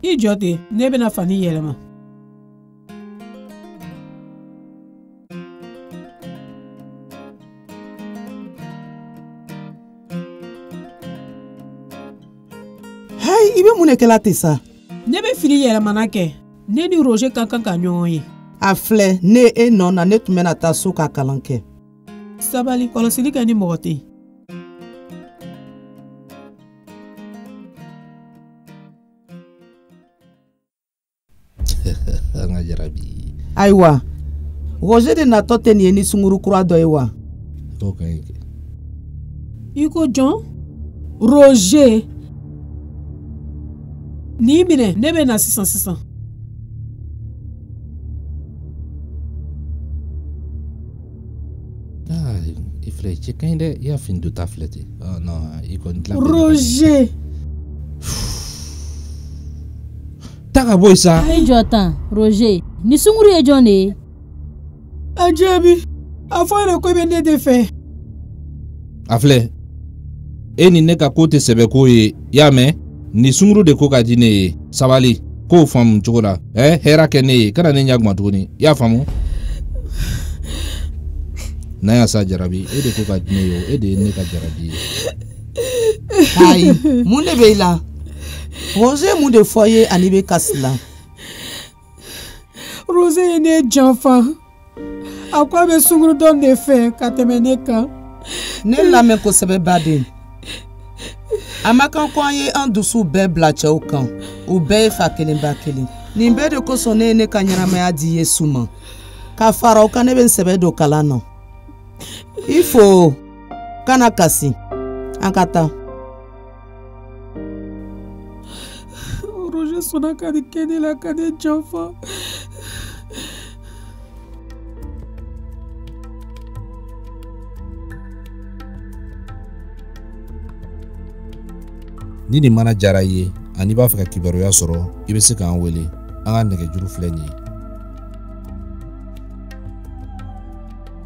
i jɔ ten ne bɛna fani yɛlɛma hayi i bɛ mun de kɛla ten sa ne bɛ fini yɛlɛmana kɛ ne ni roger ka kan ka ɲɔgɔn ye a filɛ ne e nɔ na ne tun bɛna taa so ka kalan kɛ sabali kɔlɔsili kɛ ni mɔgɔ tɛ an ka jarabi ayiwa roger de natɔ tɛ nin ye ni sunguru kura dɔ ye wa dɔw ka ɲi kɛ i ko jɔn roger nin minɛ ne bɛ na sisan sisan i filɛ cɛ ka ɲi dɛ i y'a fini donta filɛ ten non i kɔni dilan roger taa ka bɔ yen sa. i jɔ tan roger nin sunguru ye jɔn de ye. a jaabi a fɔ yɛrɛ ko i bɛ ne de fɛ. a filɛ e ni ne ka ko tɛ sɛbɛ ko ye i y'a mɛn nin sunguru de ko ka di ne ye sabali k'o faamu cogo la ɛ hɛrɛ kɛ ne ye kana ne ɲagami tuguni i y'a faamu. na yan sa jarabi e de ko ka di ne ye o e de ye ne ka jarabi ye. ayi mun de bɛ i la roger ye mun de fɔ i ye ani i bɛ kasi la. roger ye ne janfa a ko a bɛ sunguru dɔ de fɛ ka tɛmɛ ne kan. ne lamɛn kosɛbɛ baden a ma kan ko an ye an dusuw bɛɛ bila cɛw kan u bɛɛ ye fa kelen ba kelen nin bɛɛ de kosɔn ne ye ne ka ɲɛnamaya di yesu ma ka fara o kan ne bɛ n sɛbɛ don kalan na i fo. kana kasi an ka taa roger sɔnna ka nin kɛ ne la ka ne janfa ni nin mana jara i ye ani i b'a fɛ ka kibaruya sɔrɔ i bɛ se k'an wele an ka nɛgɛjuru filɛ nin ye